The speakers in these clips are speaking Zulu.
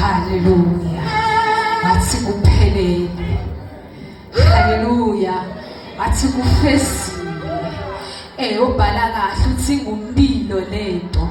Haleluya, athi kuphelele. Haleluya, athi kufezile. Eh, ubhala kahle uthi ngumpilo lento,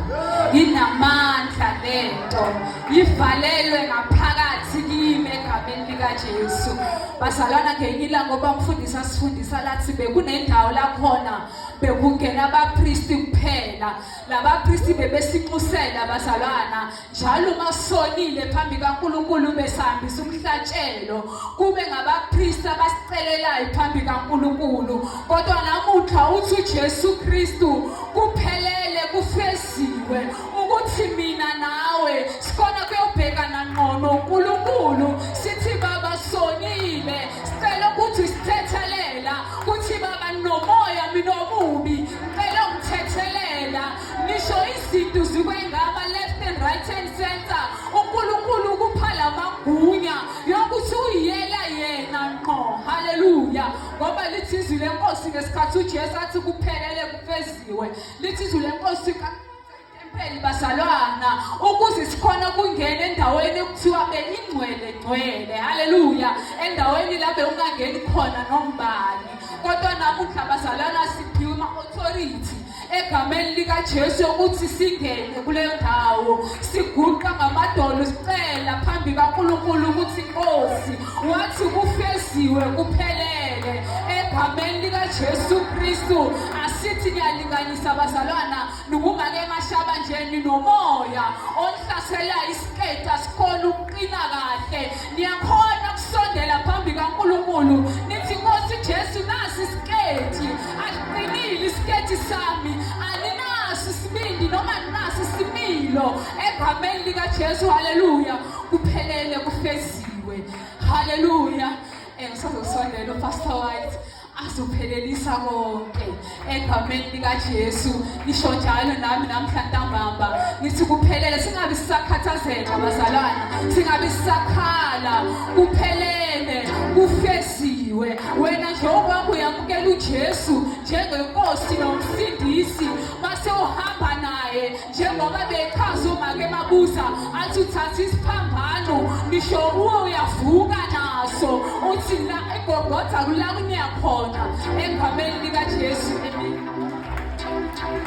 inamandla lento, ivalelwe ngaphakathi kimi egameni likaJesu. bazalwana ngelinye ilanga oba mfundisi asifundisa lathi bekunendawo lakhona bekungena abapristi kuphela labapristi bebesinxusela bazalwana njalo uma sonile phambi kaNkuluNkulu besihambisa umhlatshelo kube ngabapristi abasicelelayo phambi kaNkuluNkulu kodwa namuhla uthi uJesu Kristu kuphelele kufesi Siwe ukuthi mina nawe sikhona kuyobhekana ngqono uNkulunkulu sithi baba sonile sicela ukuthi sithethelela kuthi baba nomoya mina omubi ngicela ungithethelela nisho izinto zikwengaba left and right hand center uNkulunkulu ukupha lamagunya yokuthi uyiyela yena ngqo haleluya ngoba lithi izwi lenkosi ngesikhathi uJesu athi kuphelele kufeziwe lithi izwi lenkosi itempeli bazalwana ukuze sikhona kungena endaweni ekuthiwa beyingcwele ngcwele haleluya endaweni la bewungangeni khona nombani kodwa namuhla bazalwana siphiwe ama-authority egameni likaJesu ukuthi singene kule ndawo siguqa ngamadolo sicela phambi kaNkulunkulu ukuthi inkosi wathi kufeziwe kuphelele egameni likaJesu Kristu asithi niyalinganisa bazalwana nokungake emashaba nje ninomoya onhlasela isiqeda sikhona ukuqina kahle niyakhona ukusondela phambi kaNkulunkulu nithi Nkosi Jesu nasi isiketi asiqinile isiketi sami aninaso isibindi noma ninaso isimilo egameni likaJesu haleluya kuphelele kufezi kuthiwe haleluya and sazosondela upastor white azophelelisa konke egameni likaJesu ngisho njalo nami namhla ntambamba ngithi kuphelele singabi sisakhathazeka bazalwana singabi sisakhala kuphelele kufesiwe wena njengoba uyamukela uJesu njengenkosi nomsindisi mase uhamba naye njengoba bechaza umake emabuza athi uthatha isiphambano ngisho kuwo uyavuka naso uthi la egogotha kula kuneyakhona egameni likajesu emini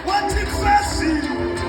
wathi fesi